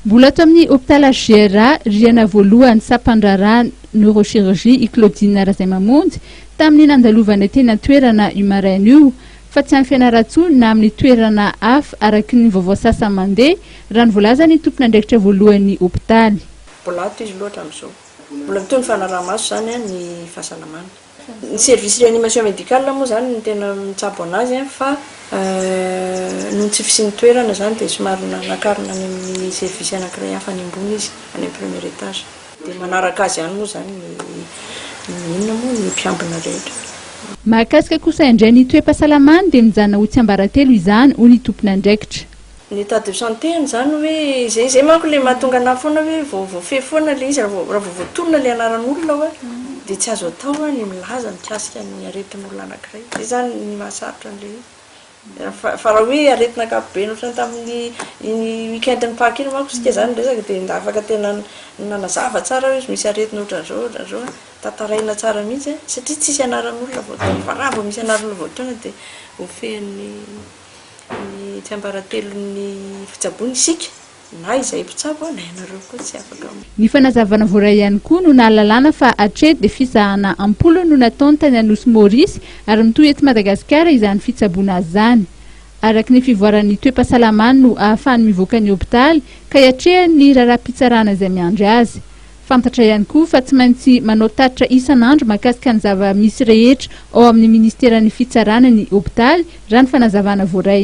Mbola ato amin'ny Hôpital HGRA, rihana voalohany sampan-draharaha Neurochirurgie i Claudine Razaimamonjy tamin'ny nandalovanay teny an-toerana io maraina io fa tsy any Fianarantsoa na amin'ny toerana hafa araky ny vaovao sasa mandeha raha ny voalazan'ny tompon'andraikitra voalohan'ny Hôpitaly. Mbola ato izy loatra amin'izao. Mbola mitohy ny fanaraha-maso izany ny fahasalamana. Ny service reanimation médicale moa izany no tena mitsabo an'azy fa noho ny tsy fisian'ny toerana izany dia somary nakarina any amin'ny service anankiray hafa any ambony izy, any amin'ny premier étage. Dia manaraka azy ihany moa izany ny inona moa, ny mpiambina rehetra. Mahakasika kosa indray ny toe-pahasalamany dia mijanona ho tsiambaratelo izany, hoy ny tompon'andraikitra. Ny état de santé any izany hoe izay izay manko ilay mahatonga anah foana hoe vao voafehy foana ilay izy raha vao voatonona ilay anaran'olona hoe dia tsy azo atao hoe ny milaza mikasika ny aretin'olona anankiray. Izay izany ny mahasarotra an'ilay izy. Fa raha hoe aretina ankapobeny ohatrany tamin'ny iny week-end-n'ny Paka iny manko isika izany niresaka dia nda afaka tena nanazava tsara hoe misy aretina ohatran'izao ohatran'izao an, tantaraina tsara mihitsy an, satria tsisy anaran'olona voatonona fa raha vao misy anaran'olona voatonona dia ho fehin'ny. ny tsiambaratelon'ny fitsaboana isika, na izay mpitsabo na ianareo koa tsy afaka. Ny fanazavana voaray ihany koa no nahalalana fa hatreto dia fizahana am-polony no nataony tany Anosy Maurice ary mitohy eto Madagasikara izany fitsaboana azy izany. Araka ny fivoaran'ny toe-pahasalamany no ahafahany mivoaka ny hopitaly ka hiatrehany ny raharaham-pitsarana izay miandry azy. Fantatra ihany koa fa tsy maintsy manao tatitra isan'andro mahakasika ny zava-misy rehetra ao amin'ny Ministeran'ny Fitsarana ny hopitaly, raha ny fanazavana voaray.